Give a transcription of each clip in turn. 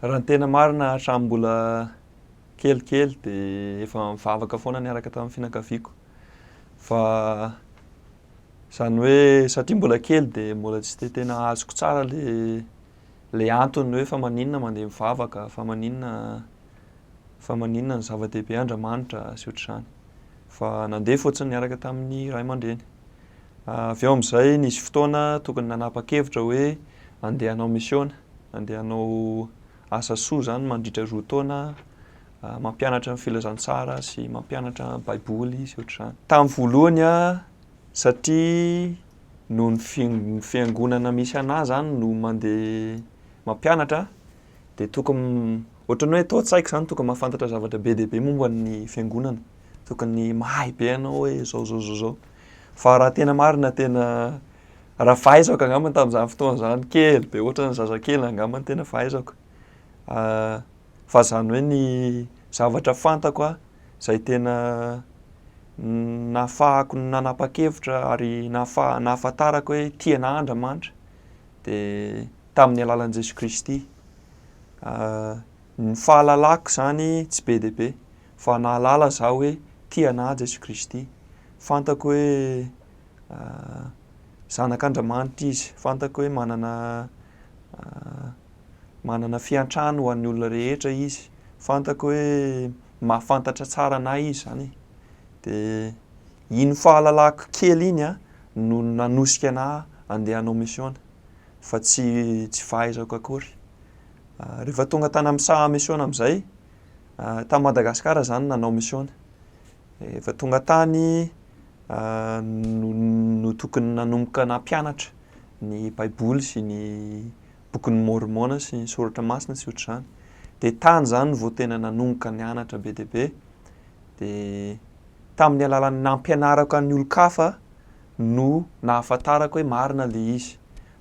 Raha ny tena marina hatramin'ny mbola kelikely dia efa mivavaka foana niaraka tamin'ny fianakaviako fa izany hoe satria mbola kely dia mbola tsy dia tena azoko tsara le le antony hoe fa maninona mandeha mivavaka fa maninona fa maninona ny zava-dehibe Andriamanitra sy ohatr'izany fa nandeha fotsiny niaraka tamin'ny ray aman-dreny avy eo amin'izay nisy fotoana tokony nanapa-kevitra hoe andeha hanao misiona Andeha hanao asa soa izany mandritra roa taona, mampianatra ny filazantsara sy mampianatra baiboly sy ohatr'izany. Tamin'ny voalohany satria noho ny fiangonana misy anah izany no mandeha mampianatra dia tokony ohatran'ny hoe tao an-tsaiko izany tokony mahafantatra zavatra be dia be momba ny fiangonana, tokony mahay be ianao hoe izao izao izao izao. Fa raha tena marina tena Raha fahaizako angamba tamin'izany fotoana izany kely be ohatran'ny zazakely angamba ny tena fahaizako fa izany hoe ny zavatra fantako aho izay tena nahafahako nanapa-kevitra ary nahafaha- nahafantarako hoe tia anah Andriamanitra dia tamin'ny alalan'i Jesoa Kristy. Ny fahalalako izany tsy be dia be fa nahalala izaho hoe tia anah Jesoa Kristy. Fantako hoe zanak'Andramanitra izy. Fantako hoe manana manana fiantrano ho an'ny olona rehetra izy. Fantako hoe mahafantatra tsara an'ahy izy zany e. De iny fahalalako kely iny an no nanosika an'ahy andeha hanao misiona fa tsy tsy fahaizako akory. Rehefa tonga tany amin'ny saha misiona amin'izay, tany Madagasikara zany nanao misiona. Efa tonga tany no no tokony nanomboka nampianatra ny Baiboly sy ny Bokin'i Môrmôna sy ny Soratra Masina sy ohatr'izany. Dia tany izany no vao tena nanomboka nianatra be dia be. Dia tamin'ny alalan'ny nampianarako an'ny olon-kafa no nahafantarako hoe marina ilay izy.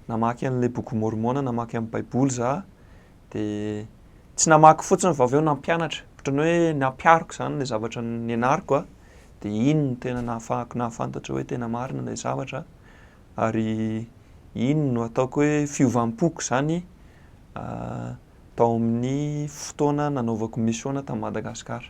Namaky an'ilay Bokin'i Môrmôna, namaky an'ny Baiboly izaho Dia tsy namaky fotsiny fa avy eo nampianatra. Ohatran'ny hoe nampiariko izany ilay zavatra nianariko a. Dia iny no tena nahafahako nahafantatra hoe tena marina ilay zavatra. Ary iny no ataoko hoe fiovam-poko izany tao amin'ny fotoana nanaovako misaona tany Madagasikara.